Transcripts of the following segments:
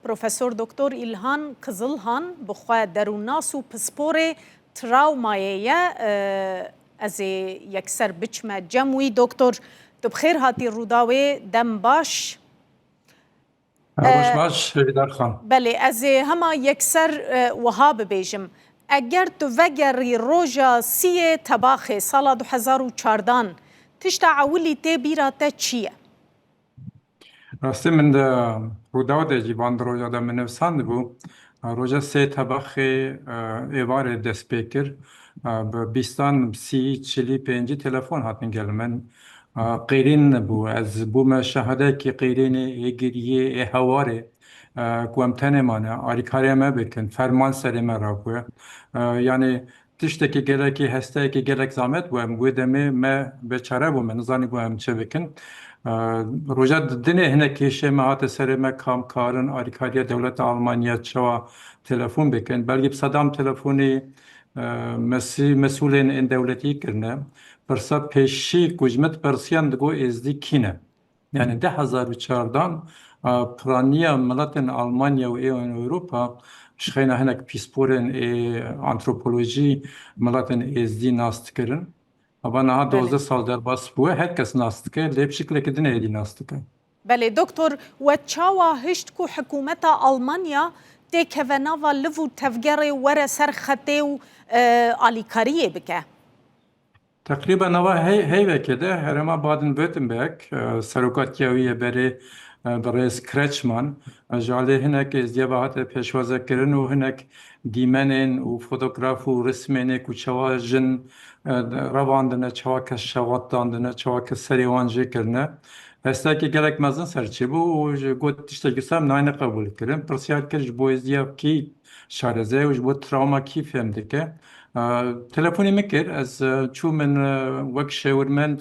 Profesor Doktor Îlhan Kizilhan bi xwe derûnnas û pisporê trawmayê ye. Ez ê yekser biçime cem wî. Doktor, tu bi xêr hatî Rûdawê dem baş. Roj baş Hêvîdar Xan. Belê ez ê hema yekser wiha bibêjim, eger tu vegerî roja sîyê Tebaxê sala du hezar û çardan, tişta ewilî tê bîra te çi ye? Rastî min di Rûdaw de jî van di roja de min nivîsandibû. Roja sê tebaxê êvarê dest pê kir. Bi bîstan, sî, çilî, pêncî telefon hatin gel min. Qîrîn bû. Ez bûme şahidekî qîrînê, ê giriyê, ê hewarê ku em tenê mane. Alîkariya me bikin. Ferman serê me rakwe. Yanî Tiştekî gelekî hesteyekî gelek zamet bû em wê demê me bêçare bû me nizanîbû em çi bikin roja dinê hinek kêşê me hate serê me ka em karin alîkariya dewleta Almanya çawa telefon bikin belgî bi sedam telefonî mesî mesûlên ên dewletî kirine pirsa pêşî ku ji min dipirsiyan digot êzdî kî ne. Yanî di hezar û çardan piraniya miletên Almanya û ê Ewropa şixeyna hinek pîsporên ê antropolojî miletên êzdî nas dikirin. Ava niha duwazdeh sal derbas bûye her kes nas dike lê bi şiklekî din êdî nas dike. Belê doktor we çawa hişt ku hikûmeta Almanya têkeve nava liv û tevgerê were ser xetê û alîkariyê bike? Teqrîben nava heyvekê de herêma Baden-Württemberg serokatiya wî yê berê birêz Kretschmann ji aliyê hinek êzdîya ve hate pêşwazekirin û hinek dîmenên û fotograf û rismênê ku çawa jin revandine, çawa kes şewat dandine, çawa kes serê wan jê kirine hestiyekê gelek mezin serçêbû û got tiştekî wisa min nayêne qebûlkirin. Pirsyar kir ji bo êzdîya kî Şareze û ji bo trawma kî fêm dike. Telefonê min kir, ez çûm min wek şêwirmend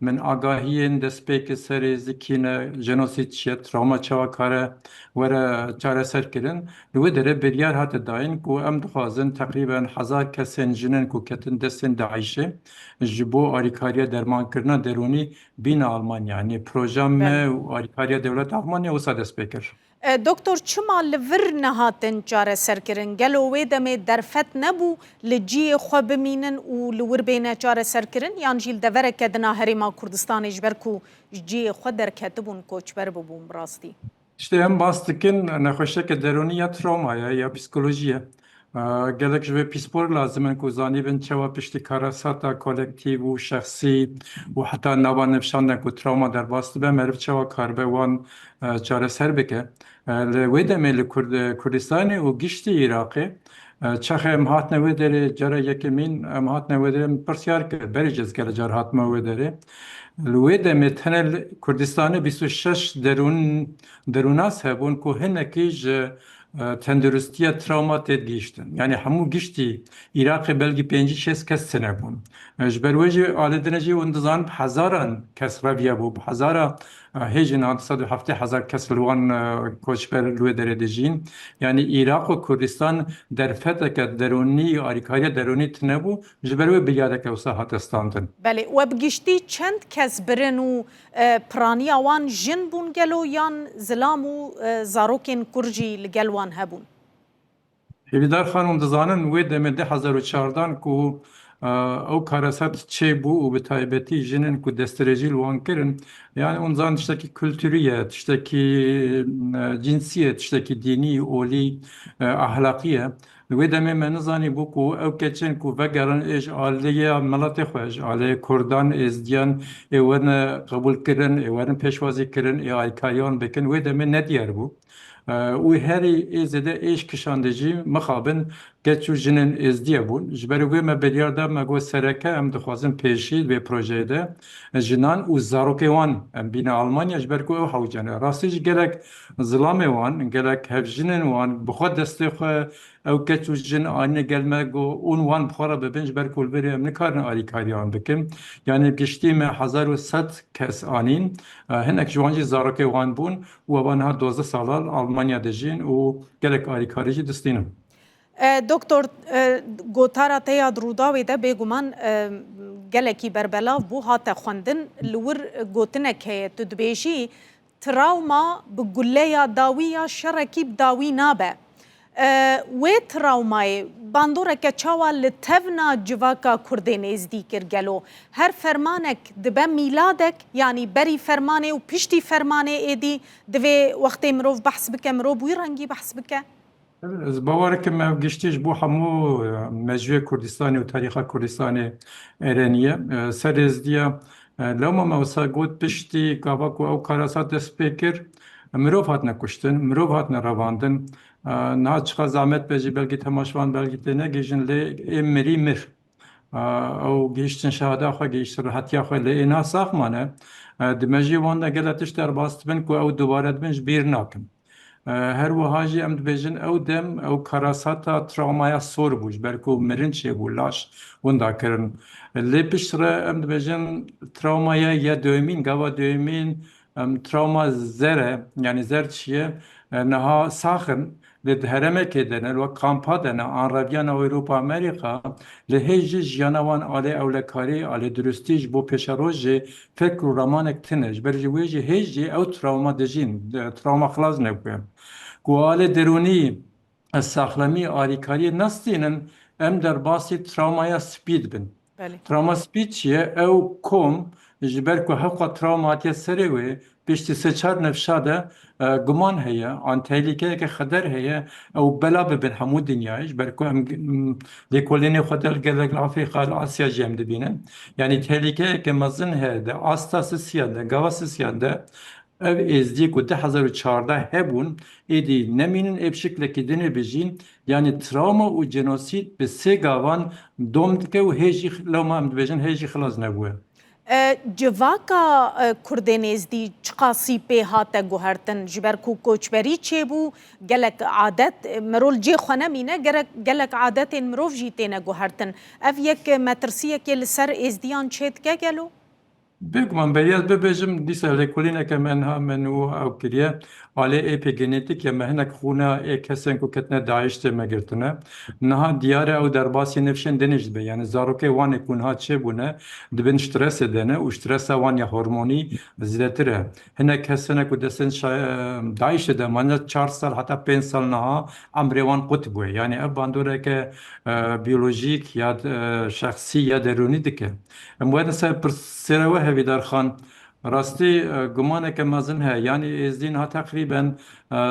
min agahiyên dest pê kir serê zikî ne, jenosîd çi ye, trawma çawa kare were çareser kirin. Li wê derê biryar hate dayîn ku em dixwazin teqrîben hezar kesên jinin ku ketin destên DAIŞ'ê ji bo alîkariya dermankirina derûnî bîne Almanya. Yanî proja me û alîkariya dewleta Almanya wisa dest pê kir. Doktor çima li vir nehatin çareserkirin? Gelo wê demê derfet nebû li ciyê xwe bimînin û li wir bêne çareserkirin yan jî li devereke din a Herêma Kurdistanê ji ber ku ji ciyê xwe derketibûn koçber bibûn bi rastî? Ji em bas dikin nexweşiyeke derûnî ya trawma ye ya psîkolojî ye. Gelek ji vê pîspor lazim in ku zanîbin çawa piştî karasata kolektîv û şexsî û heta nava nifşan de ku trawma derbas dibe, meriv çawa karibe wan çareser bike. Li wê demê li Kurdistanê û giştî Iraqê çaxê em hatine wê derê cara yekemîn em hatine wê derê min pirsyar kir, berê cih ez gelek car hatime wê derê. Li wê demê tenê li Kurdistanê bîst û şeş derûn, derûnas hebûn ku hinekî ji Tenduristiya travma têt gihîştin. Yanî hemû giştî Îraqê belgî pêncî şêst kes tine bûn. Ji ber wê jî alê din e jî hûn dizan bi hezaran kes reviya bo. Bi hezara hêjin a du sed û heftê hezar kes li wan koçber li wê derê dijîn. Yanî Îraq û Kurdistan derfeteke derûnî û alîkariya derûnî tine bû. Ji ber wê biryareke wisa hate standin. Belê. We bi giştî çend kes birin û Piraniya wan jin bûn gelo yan zilam û zarokên kur jî li gel wan hebûn? Hêvîdar Xanûm dizanin wê demê di hezar û çardan ku ew kareset çêbû û bi taybetî jinên ku destdirêjî li wan kirin yanî hûn dizanin tiştekî kulturî ye, tiştekî cînsî ye, tiştekî dînî, olî, ahlaqî ye. Di wê demê me nizanî bû ku ew keçên ku vegerin ê ji aliyê miletê xwe, ji aliyê kurdan, êzdiyan ê werin qebûlkirin, ê werin pêşwazîkirin, ê alîkariyan bikin wê demê ne diyar bû û herî ê zêde êş kişandî jî mixabin keç û jinên êzdiye bûn. Ji ber wê me biryar da me got sereke em dixwazin pêşî di vê projeyê de jinan û zarokên wan em bîne Almanya ji ber ku ew hewce ne. Rastî jî gelek Zilamê wan, gelek hevjinên wan bi xwe destê xwe, ew keç û jin anîne gel me go ûn wan bi xwe re bi bin ji ber ku li virê em nikarin alîkarî wan bikin. Yanî bi giştî me hezar û sed kes anîn. Hinek ji wan jî zarokê wan bûn û evan niha duwazdeh sala li Almanya dijîn û gelek alîkarî jî distînin. Doktor, gotara te ya di Rûdawê de bêguman gelekî berbelav bû, hate xwendin. Li wir gotinek heye, tu dibêjî, Trawma bi guleya dawî ya şerekî bi dawî nabe. Wê trawmayê bandoreke çawa li tevna civaka kurdê nêzdî kir gelo? Her fermanek dibe mîladek, yanî berî fermanê û piştî fermanê êdî divê wextê mirov behs bike mirov wî rengî behs bike. Ez bawer dikim ev giştî ji bo hemû mejûyê Kurdistanê û tarîxa Kurdistanê erênî ye. Ser rêzdiya lewma me wisa got piştî gava ku ew karasat dest pê kir mirov hatine kuştin, mirov hatine revandin. Niha çiqas zehmet be jî belkî temaşvan belkî tênegihîjin lê ê mirî mir. Ew gihîştin şehada xwe, gihîştin rihetiya xwe lê êna sax mane. Di mejiyê wan de gele tişt derbas dibin ku ew dubare dibin ji bîr nakin. Her wiha jî em dibêjin ew dem ew karasata trawmaya sor bû ji ber ku mirin çêbû, laş winda kirin. Lê piştre em dibêjin trawmaya ye duyemîn, gava duyemîn Travma zer e, yanî zer çi ye? Niha sax in lê di heremekê de ne, li wek kampa de ne an reviyana Ewropa Amerîka, lê hê jî jiyana wan alê ewlekarî, alê duristî ji bo pêşerojê fekr û ramanek tune. Ji ber jî wê jî hê jî ew travma dijîn, travma xilas nebûye. Ku alê derûnî Ez saxlemî alîkariyê nastînim, em derbasî trawmaya spî dibin. Trawma spî çi ye? Ew kom ji ber ku hevqat trawma hatiye serê wê, piştî sê çar nifşa de guman heye an tehlîkeyeke xeder heye ew bela bibin hemû dinyayê ji ber ku em lêkolînê xwe del gelek li Afrîka li Asya jî em dibînin. Yanî tehlîkeyeke mezin heye di asta sisiyan de, gava sisiyan de Ev êzdiyê ku di hezar û çardeh hebûn êdî nemînin ê bi şiklekî din ê bijîn, yanî trawma û cenosîd bi sê gavan dom dike û hê jî lewma em dibêjin hê jî xilas nebûye. Civaka Kurdên êzdî çiqasî pê hate guhertin? Ji ber ku koçberî çêbû gelek adet mirol cê xwe nemîne gerek gelek adetên mirov jî têne guhertin. Ev yek metirsiyekê li ser êzdiyan çêdike gelo? Bê ku min bêriya ez bibêjim, dîsa lêkolîneke me niha min û ew kiriye. Alê êpê genetîkê me hinek xûna ê kesên ku ketine DAIŞ tê me girtine. Niha diyar e ew derbasî nifşên dinê jî dibe. Yanî zarokê wan ê ku niha çêbûne, di bin stresê de ne û stresa wan ya hormonî zêdetir e. Hinek kes hene ku destên DAIŞ'ê de mane çar sal heta pênc sal niha emrê wan qut bûye. Yanî ev bandoreke biyolojîk ya şexsî ya derûnî dike. Em werin ser pirsgirêka we Hevîdar Xan, Rastî gumaneke mezin heye, yanî êzdî niha teqrîben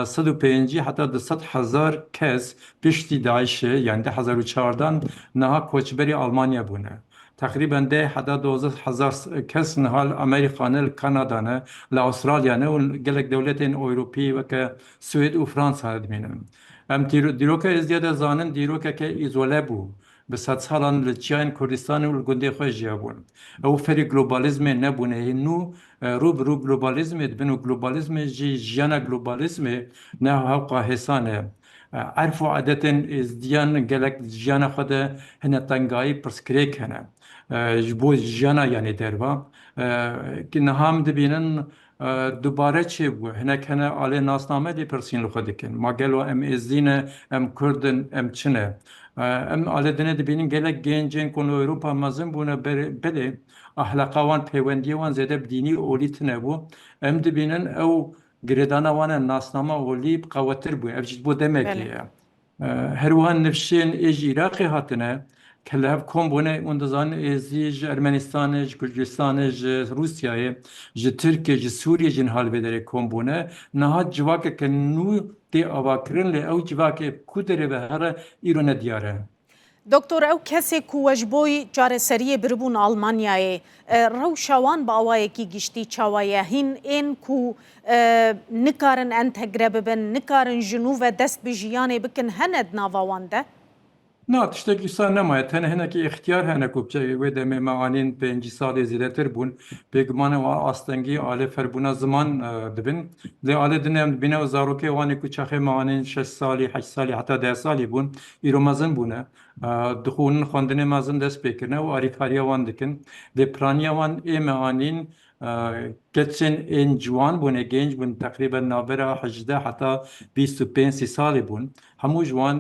sed û pêncî heta du sed hezar kes piştî DAIŞ'ê, yanî di hezar û çardan niha koçberî Almanya bûne. Teqrîben deh heta duwazdeh hezar kes niha li Amerîka ne, li Kanada ne, li Astralya ne û li gelek dewletên Ewropî weke Swêd û Fransa ne dimînin. Em dîroka Êzidîya de zanin dîrokeke îzole bû. Bi sedsalan li çiyayên Kurdistanê û li gundê xwe jiyabûn. Ew ferî globalîzmê nebûne. Hîn nû rû bi rû globalîzmê dibin û globalîzmê jî jiyana globalîzmê ne hewqa hêsan e. Erf û adetên êzdiyan gelek di jiyana xwe de hene tengayî pirsgirêk hene ji bo jiyana yanê derva ku niha em dibînin dubare çêbû. Hinek hene alê nasname lê pirsîn li xwe dikin, Ma gelo em êzdî ne, em kurd in, em çi ne? Em alê din ê dibînin gelek gênc ên ku li Ewropa mezin bûne belê ehleqa wan, peywendiyê wan zêde bi dînî olî tune bû. Em dibînin ew Girêdana wan a nasnama olî bi qewetir bûye. Ev jî ji bo demekê ye. Her wiha nifşên ê ji Îraqê hatine ke li hev kom bûne û dizanin ê zî ji Ermenistanê, ji Kurdistanê, ji Rûsyayê, ji Tirkiyê, ji Sûriyê jî niha li vê derê kom bûne. Niha civakeke nû tê avakirin lê ew civakê ku derê ve here îro ne diyar e. Doktor ew kesê ku we ji bo çareseriyê biribûn Almanyayê, rewşa wan bi awayekî giştî çawa ye? Hîn ên ku nikarin entegre bibin, nikarin ji nû ve dest bi jiyanê bikin hene di nava wan de? Na, tiştek wisa nemaye. Tenê hinekî îxtiyar hene ku biçe. Wê demê me anîn pêncî salê zêdetir bûn. Bêguman ew astengî alê ferbûna ziman dibin. Lê alê din em dibîne û zarokê wan ê ku çaxê me anîn şeş salî, heşt salî heta deh salî bûn. Îro mezin bûne, dixwînin, xwendinê mezin dest pê kirine û alîkariya wan dikin. Dê piraniya wan ê me anîn, keçên ên ciwan bûn ê gênc bûn, teqrîben navbera hejdeh heta bîst û pênc sî salî bûn. Hemû ji wan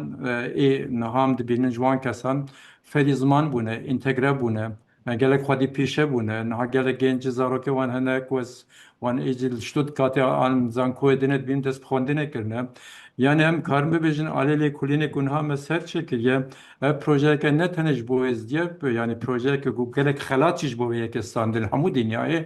ê niha em dibînin ji wan kesan ferî ziman bûne, întegre bûne, Me gelek xwedî pîşe bûne. Niha gelek gêncî zarokê wan hene ku ez wan êdî li Stuttgartê an zankoyê din ê dibînim dest bi xwendinê kirine. Yanî em karin bibêjin alê lêkolînê ku niha me ser çêkiriye, ev projeyeke ne tenê ji bo êzdî ye, yanî projeyeke ku gelek xelat jî ji bo vê yekê stande li hemû dinyayê.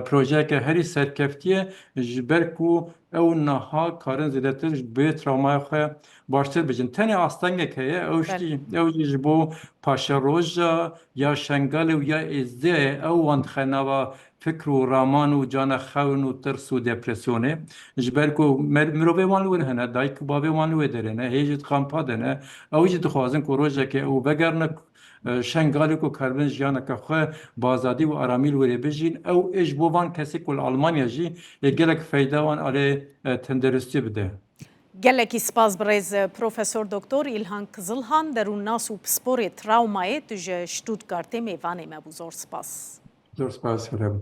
Projeyeke herî serkeftî ye ji ber ku ew niha karin zêdetir bi trawmaya xwe Baştir bijîm. Tenê astengek heye ew Bel. jî ew jî ji bo Paşeroja ya Şengalê û ya Êzidê ye. Ew wan dixe nava fikr û raman û cana xewin û tirs û depresyonê. Ji ber ku mer mirovê wan li wir hene, dayik û bavê wan li wê derê ne, hê jî di kampa de ne. Ew jî dixwazin ku rojekê ew vegerine Şengalê ku karibin jiyaneke xwe bi azadî û aramî li wirê bijîn. Ew ê ji bo van kesê ku li Almanya jî yê gelek feyda wan alê tendirustî bide. Gelekî spas birêz Profesor Doktor Îlhan Kizilhan derûnnas û pisporê trawmayê tu ji Stuttgartê mêvanê me bû zor spas. Zor spas Hirem.